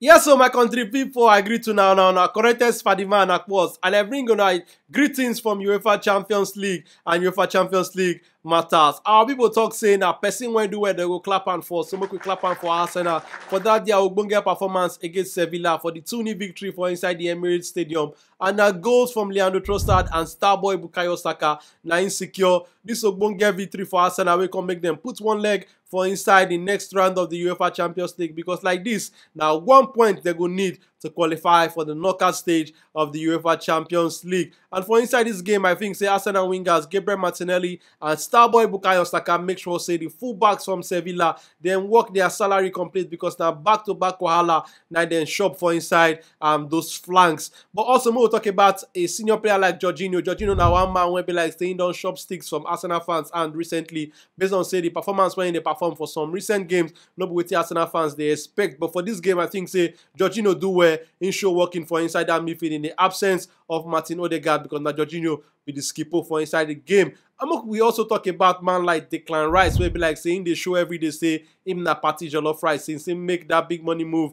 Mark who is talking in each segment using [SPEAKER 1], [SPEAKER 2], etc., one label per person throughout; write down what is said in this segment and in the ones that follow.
[SPEAKER 1] Yes o my country pipu I greet una, una una corrected Spady man Akpos and I bring una greetings from Uefa Champions League and Uefa Champions League matters. Our people talk say na person wey do well dem go clap am for so make we clap am for Arsenal for that their ogbonge performance against Sevilla for the 2-0 victory for inside the Emirates Stadium and na goals from Leandro Trossard and starboy Bukayo Saka na im secure this ogbonge victory for Arsenal wey come make dem put one leg for inside di next round of di uefa champions league becos like dis na one point dem go need to qualify for di knockout stage of di uefa champions league and for inside dis game i think say arsenal wingers gabriel martinelli and starboy bukayo saka make sure say di fullbacks from sevilla dem work dia salary complete becos na back to back wahala na dem shop for inside um those flanks but also make we tok about a senior player like jorginho jorginho na one man wey be like say im don shop sticks from arsenal fans and recently based on say the performance when they perform for some recent games, no be wetin Arsenal fans they expect. But for this game, I think say Jorginho do well in show working for inside that midfield in the absence of Martin Odegaard because now Jorginho be the skipper for inside the game. Amok, we also talk about man like Declan Rice, where be like saying they show every day say him na party jollof rice since he make that big money move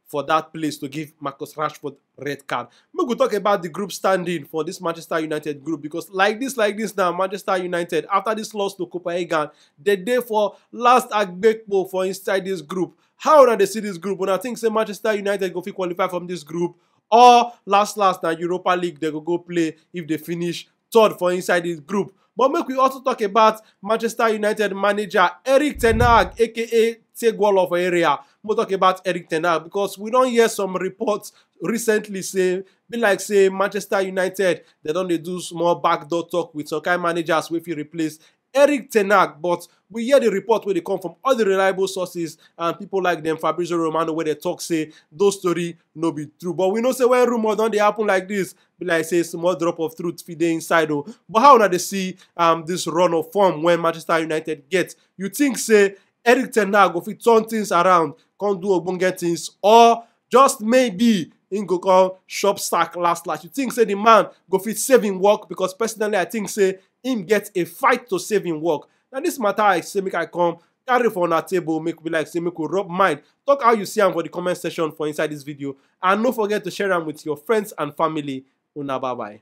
[SPEAKER 1] for that place to give Marcus Rashford red card. We could talk about the group standing for this Manchester United group because like this, like this now, Manchester United, after this loss to Copenhagen, the day for last Agbekpo for inside this group. How do they see this group? When I think say Manchester United go fit qualify from this group or last last na Europa League they go go play if they finish third for inside di group. But make we also talk about Manchester United manager Eric Ten Hag aka Tegwolo for area. We'll talk about Eric Ten Hag because we don hear some reports recently say be like say Manchester United they don dey do small backdoor talk with some kind managers wey fit replace Erik ten Hag but we hear di report wey dey come from all di reliable sources and pipo like dem Fabrizio Romano wey dey tok say those tori no be true but we know say wen rumour don dey happen like dis be like say small drop of truth fit dey inside o. But how una dey see um dis run of form wey Manchester United get? You think say Erik ten Hag go fit turn things around come do ogbonge things or just maybe im go come chop sack last last? You think say di man go fit save im work? Because personally I think say him get a fight to save him work. Na this matter I say make I come carry for una table make we like say make we rub mind talk how you see am for the comment section for inside this video and no forget to share am with your friends and family una bye bye.